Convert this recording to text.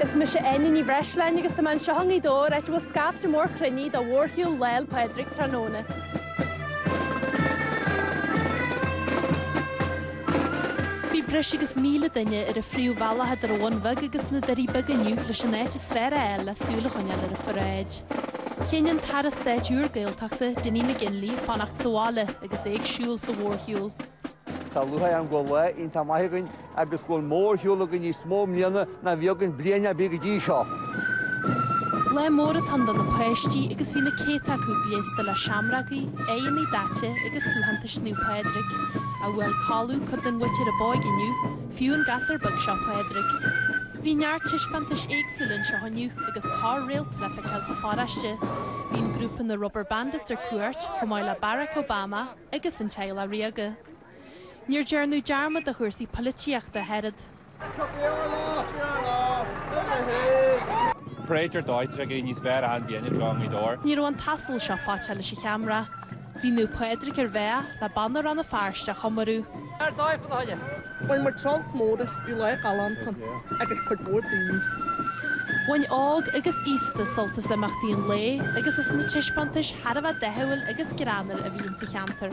Is mise Áine Ní Bhreisleáin agus tá mé anseo i nGaoth Dobhair áit a bhfuil scaifte mór cruinnithe do mhórshiúl Lá 'le Pádraig tráthnóna. Bhí breis agus 1,000 duine ar an phríomhbhealach idir an Bhun Bheag agus na Doirí Beaga inniu leis an áit is fearr a fháil le súil a choinneáil ar an pharáid. Chinn an tAire Stáit úr Gaeltachta, Dinny McGinley, fanacht sa bhaile, agus é ag siúl sa mhórshiúl. Tá lúcháir orm go bhfuil lá iontach maith againn agus go bhfuil mórshiúl againn níos mó i mbliana ná bhí againn bliain ar bith go dtí seo. Lá mór atá ann do na páistí agus bhí na céadta acu gléasta le seamrógaí, aghaidheanna daite agus suaitheantais Naomh Pádraig, ach bhuail codladh cuid den mhuintir ab óige inniu, fiú an gasúr beag seo, Pádraig. Bhí neart taispeántais éagsúla anseo inniu agus corr-réalta le feiceáil sa pharóiste. Bhí an grúpa na Rubber Bandits ar cuairt chomh maith le Barack Obama agus an teaghlach ríoga. Níor dearnadh dearmad de chúrsaí polaitíochta ach oiread. Praetor Deutsch ag éirí níos fearr ann bhí Enda John Gaoth Dobhair. Ní raibh an t-asal seo faiteach leis an cheamara. Bhí Naomh Pádraig ar a bhealach le Banna Rann na Feirste a chomóradh. Ar dóigh fá na hoileáin. Bhain muid sult mór as, bhí lá galánta agus cuid mhór daoine. Bhain óg agus aosta sult as imeachtaí an lae agus as na taispeántais thar a bheith dathúil agus greannmhar a bhí insa cheantar.